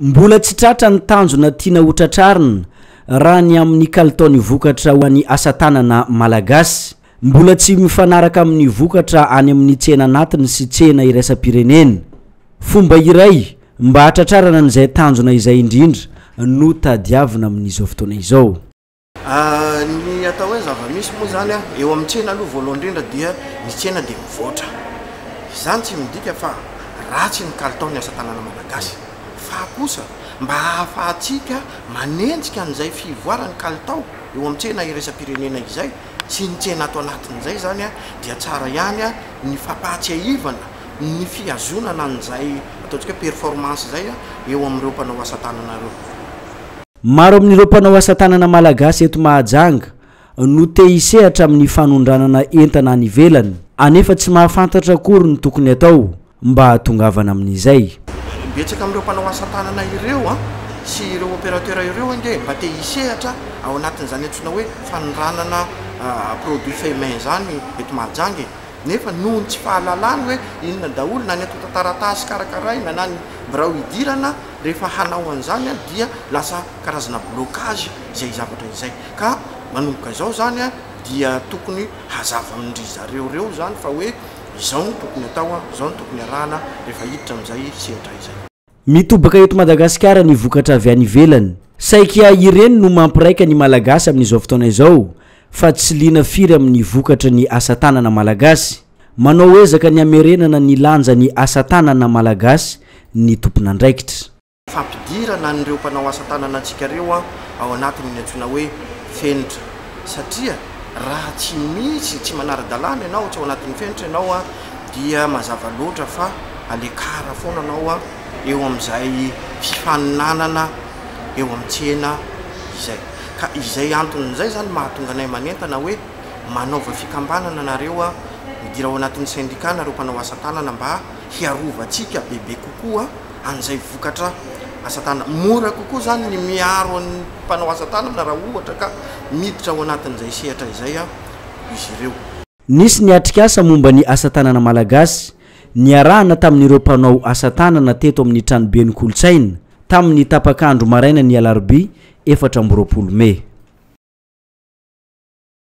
Mbola tsy tratra ny tanjona tiana ho tratrarina raha ny amin'ny kalitaon'ny vokatra ho an'ny asatanana malagasy. Mbola tsy mifanaraka amin'ny vokatra any amin'ny tsena anatiny sy tsena iraisam-pirenena. Fomba iray mba hahatratrarana an'izay tanjona izay indrindra no tadiavina amin'izao fotoana izao. Ny atao hoe zava-misy moa izany an, eo amin'ny tsena aloha voalohany indrindra dia ny tsena dia mivoatra. Izany tsy midika fa ratsy ny kalitaon'ny asa tanana malagasy fa kosa mba hahafahantsika manenjika an'izay fivoaran'ny kalitao eo amin'ny tsena iraisam-pirenena izay sy ny tsena ato anatin'izay izany an dia tsara ihany ny fampahatsiahivana ny fihazonana an'izay ataontsika hoe performance izay eo amin'ireo mpanao asa tanana ireo. Maro amin'ireo mpanao asa tanana malagasy eto Mahajanga no te hisehatra amin'ny fanondranana entana any ivelany anefa tsy mahafantatra akory ny tokony atao mba hahatongavana amin'izay. Betsaka amin'ireo mpanao asa tanana ireo sy ireo opérateur ireo ange mba te hisehatra ao anatin'izany antsoina hoe fanondranana produit fait main izany eto Mahajanga e! nefa noho ny tsy fahalalany hoe inona daholo na ny antontan-taratasy karakaraina na ny birao idirana Rehefa hanao an'izany an dia lasa karazana blocage izay zavatra izay. Ka manomboka izao izany an dia tokony hazava amin-dry zareo ireo izany fa hoe izao no tokony atao an, izao no tokony arahana rehefa hiditra amin'izay sehatra izay. Mitobaka eto Madagasikara ny vokatra avy any ivelany. Saika ireny no mampiraika ny Malagasy amin'izao fotoana izao fa tsy liana firy amin'ny vokatry ny asa tanana Malagasy. Manao ezaka ny hamerenana ny lanjan'ny asa tanana malagasy ny tompon'andraikitra. Fampidirana an'ireo mpanao asa tanana antsika ireo ao anatin'ny antsoina hoe fenitra satria raha tsy misy, tsy manara-dalàna ianao, tsy ao anatin'ny fenitra ianao dia mazava loatra fa alekara foana anao eo amin'izay fifaninanana eo amin'ny tsena izay. Ka izay anton'izay izany mahatonga anay manentana hoe. Manaova fikambanana nareo a! Midira ao anatin'ny sendika nareo mpanao asa tanana mba hiarovantsika bebe kokoa an'izay vokatra asa tanana. Mora kokoa izany ny miaro an'ny mpanao asa tanana raha ohatra ka miditra ao anatin'izay sehatra izay izy ireo. Nisy ny atrikasa momba ny asa tanana malagasy niarahana tamin'ireo mpanao asa tanana teto amin'ny tranoben'ny kolontsaina tamin'ny tapak'andro marainan'ny alarobia efatra amby roapolo mey.